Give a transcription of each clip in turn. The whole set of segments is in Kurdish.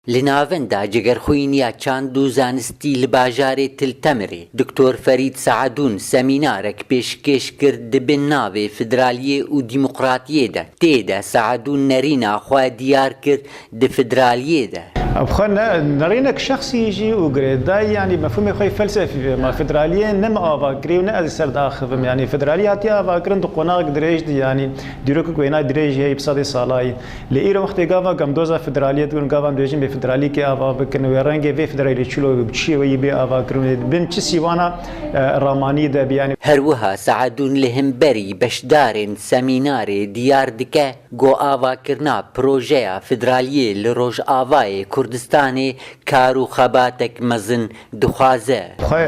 Li navend a Cigerxwîniya Çand û Zanistî li bajarê Til Temirê Doktor Ferîd Seadûn semînarek pêşkêş kir di bin navê Fidraliyê û Dîmoqratiyê de. Tê de Seadûn nerîna xwe diyar kir di fidraliyê de. Ev xwe ne nerînek şexsî jî û girê dayî yanî mefhûmê xwe yê felsefî vê. Ma fidraliyê ne min ava kirî û ne ez li ser diaxivim. Yanî fidraliyê hatiye avakirin di qonaxek dirêj de yanî dîrokek wêna dirêj heye yê bi sedê salayî. Lê îro wextê gava gamdoza federaliyê dibin û gava em dibêjin bê federalîkê ava bikin wê rengê vê federalî çilo wê bi bi çiyê wê yî bê ava kirin wê di bin çi sîwana ramanî de bi yanî Her wiha Seedûn li himberî beşdarên semînarê diyar dike ku avakirina projeya federaliyê li Rojavayê Kurdistanê kar û xebatek mezin dixwaze. Xwe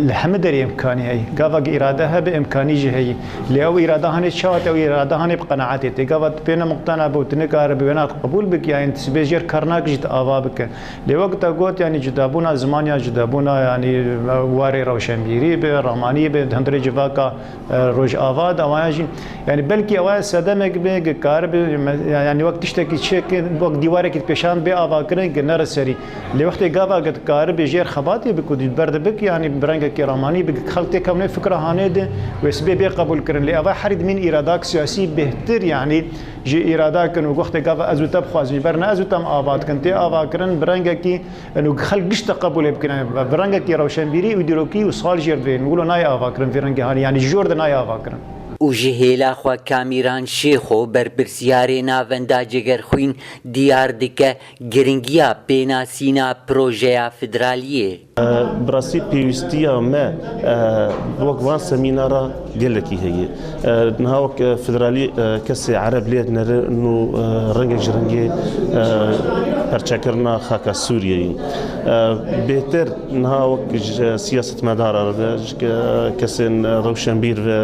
li hemû derê îmkanî heyî. Gava gi îrade hebe îmkanî jî heyî. Lê ew îrade hanê çawa te wî îrade hanê bi qenaetê tê. Gava tu pêna muqtena bo, tu nikare bi wêna qebûl bik yanî tu sibê jêr kar nakijî tu ava bike. Lê wek te got yanî cudabûna ziman ya cudabûna yanî warê rewşenbîrî be, ramanî be di hundirê civaka rojava de wayan jî yanî belkî ew aya sedemek be gi karibe yanî wek tiştekî çêke wek dîwarekî dipêşand bê avakirin ku nere serî. Lê wextê gava ke dikaribê jêr xebatê bi ku dîlber dibik yanî bi rengekî ramanî bik ke xelk têkewne wê fikra hanê di wê sibê bê qebûlkirin. Lê eva herî dimîn îradak siyasî bêhtir yanî jî îrada kin û wextê gava ez û te bixwazîn jî berna ez û te em ava dikin tê avakirin bi rengekî û xelk gişta qebûlê bikine bi rengekî rewşenbîrî û dîrokî û sal jêr di vê wilo nayê avakirin vê rengê hanî yanî ji jor de nayê avakirin. Û ji hêla xwe Kamîran Şêxo berpirsyarê navenda Cegerxwîn diyar dike, Giringiya pênasîna projeya federaliyê. Bi rastî pêwîstiya me bi wek van semînara gelekî heye. Niha wek federalî kesê ereb lê dinêrin û rengek ji rengê perçekirina xaka Sûriyeyê in. Bêhtir niha wek ji siyasetmedaran re ve, ji kesên rewşenbîr ve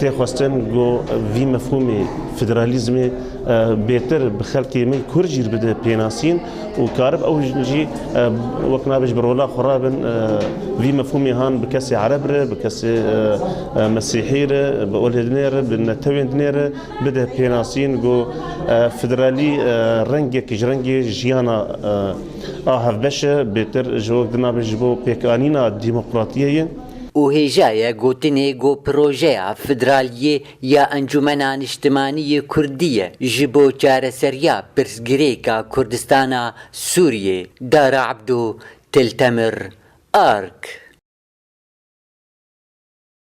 tê xwestin ku vî mefhûmê federalîzmê, Bêtir bi xelkê me Kurd jî bide pênasîn û karib ew jî wek nabêj bi rola xwe re bin vî mefhûmê han bi kesê ereb re, bi kesê mesîhî re, bi olê dinê re, bi netewên dinê re bide pênasîn ku federalî rengek ji rengê jiyana a hevbeş e, bêtir ji wek dinabêj ji bo pêkanîna demokratiyê ye. Û hêja ye gotinê ku projeya federaliyê ya Encûmena Niştimanî yê Kurdî ye ji bo çareseriya pirsgirêka Kurdistana Sûriyê, Dara Ebdo Tiltemir, arg.